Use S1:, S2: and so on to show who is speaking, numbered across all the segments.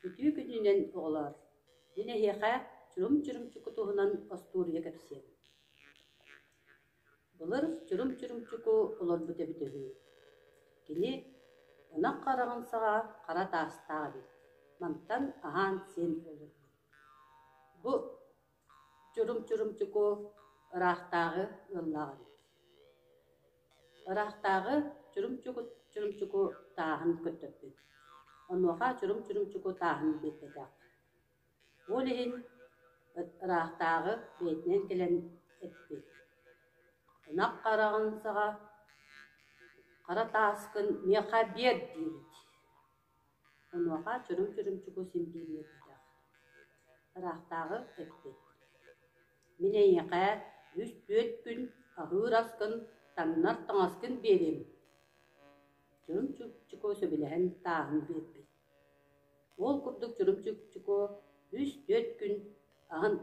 S1: Үтүө күнүнэн, оҕолоор! Мин эһиэхэ чурум-чурумчу кутуһунан остуоруйа кэпсиэм. Былыр чурум-чурумчуку олорбут эбит үһү. Кини ынах хараҕын саҕа хара таастаах эбит. Мантан аһаан-сиэн олорбут. Бу Чурумчурумчуку ыраахтааҕы ыаллааҕым. Ыраахтааҕы чурумчуку чурумчуку тааһын көттөхпүт. Онуоха чурумчурумчуку тааһын биэрбэтэх. Ол иһин ыраахтааҕы бэйэтинэн кэлэн эппит: «Ынах хараҕын саҕа, хара тааскын миэхэ биэр» диибит Онуоха чороҥ чорумчуку син биир үөрбүтэх: «Ыраахтааҕы эппит: Мин эйиэхэ үс түөрт күн аһыыр аскын, таҥнар таҥаскын биэриэм» Чорумчуку сөбүлэһэн тааһын биэрбит. Ол курдук Чорумчуку үс-түөрт күн аһын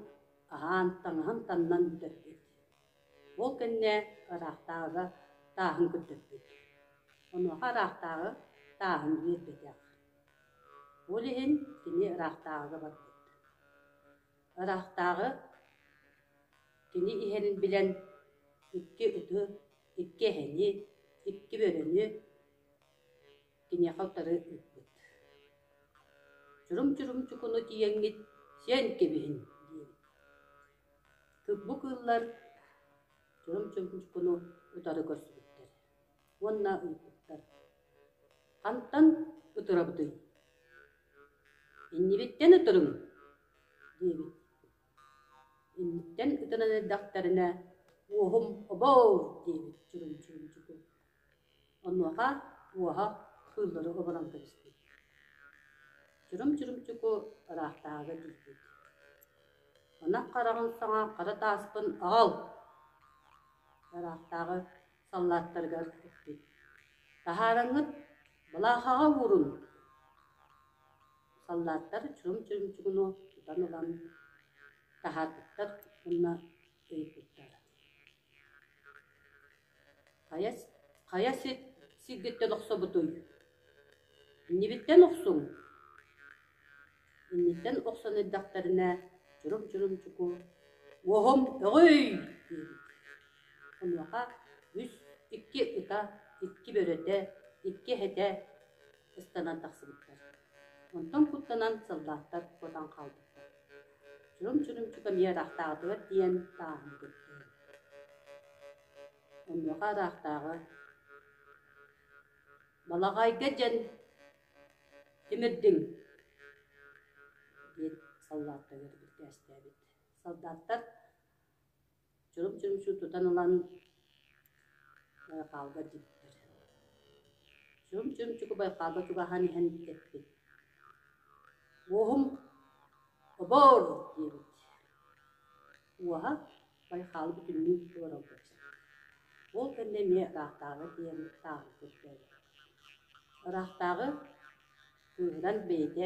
S1: аһаан, таҥаһын таннан бүтэрбит Ол кэннэ ыраахтааҕыга тааһын көрдөрбүт. Онуоха ыраахтааҕы тааһын үөрбэтэх. Ол иһин кини ыраахтааҕыга барбыт. Ыраахтааҕы кини иһэрин билэн икки ыты, икки эһэни, икки бөрөнү киниэхэ утары ыыппыт. «Чурум-чурумчукуну тиийэҥҥит сиэн кэбиһин» диэбит Кырбык ыаллар чурум-чубучкуну утары көрсүбүттэр уонна ыйыппыттар: «Хантан ытырабытый? Иннибиттэн ытырыҥ» диэбит. Инниттэн ытынан эрдэхтэринэ «Уоһум обоор» диэбит чурум-чубучуку Онуоха уоһа кыыллары оболон кэбиспит, чурум-чурумчуку ыраахтааҕыга тиийбит, ынах хараҕын саҥа хара тааспын аҕал! ыраахтааҕы саллааттарыгар эппит: «Таһаараҥҥыт былаахаҕа уурун!» Саллааттар чурум-чурумчугуну тутан ылан, таһаартыктар уонна ыйыппыттар: Хайа, хайа сир сиргиттэн охсобутуй? Иннибиттэн охсуҥ? Инниттэн охсон эрдэхтэринэ чурум-чурумчуку «Уоһум өҕүй!» диэбит. Онуоха үс, икки ыта, икки бөрөтө, икки эһэтэ ыстанан тахсыбыттар. Онтон куттанан сыллааттар кутан хаалбыттар Чурум-чурумчу кабинетаахтаҕытыгар тиийэн ааһан кэттэ Онуоха ыраахтааҕы «Балаҕайга дьэн тимирдиҥ» диэн саллааттар үөрбүттээстээбит. Саллааттар чурум-чурумчу тутан ылан байхаалга тиктэр. Чурум-чурумчуку байхаалга чугаһаан иһэн тэппит. Уоһум «Обор!» диэбит. Уоһа байхаалы бүтүннүү олорорго Ол кэннэ эмиэ ыраахтааҕы диэн тааһырбыт бэрт. Ыраахтааҕы кыыһыран бэйэтэ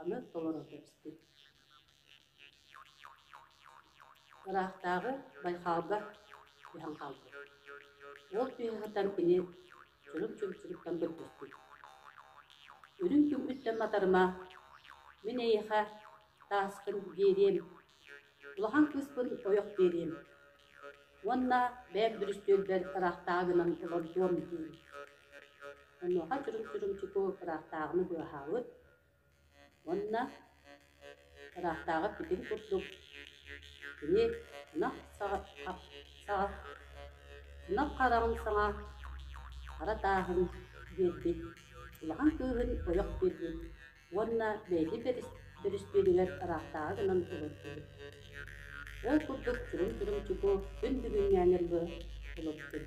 S1: аны толоро кэбистим ыраахтааҕы байхалга түһэн хаалбыт ол түһэ сытар кини чунуп чүмчүрүктэн бырдыспыт үрүҥ күммүттэн матарыма мин эйиэхэ тааскын биэриэм Улахан кыыспын ойох диэриим. Уонна бэйэм бүрүстүөлбэр ыраахтааҕы гынан олордуом дии. Онуоха чурумчурумчуку ыраахтааҕыны быаһаабыт уонна ыраахтааҕы пикин курдук кини ынах саҕа саҕа ынах хараҕын саҥа хара тааһын биэрбит улахан кыыһын ойох биэрбит уонна бэйэтин бэрэстэбиитэлигэр ыраахтааҕы гынан олордубут ол курдук кырым-кырымчыку күн бүгүҥҥээнэргэ олордубут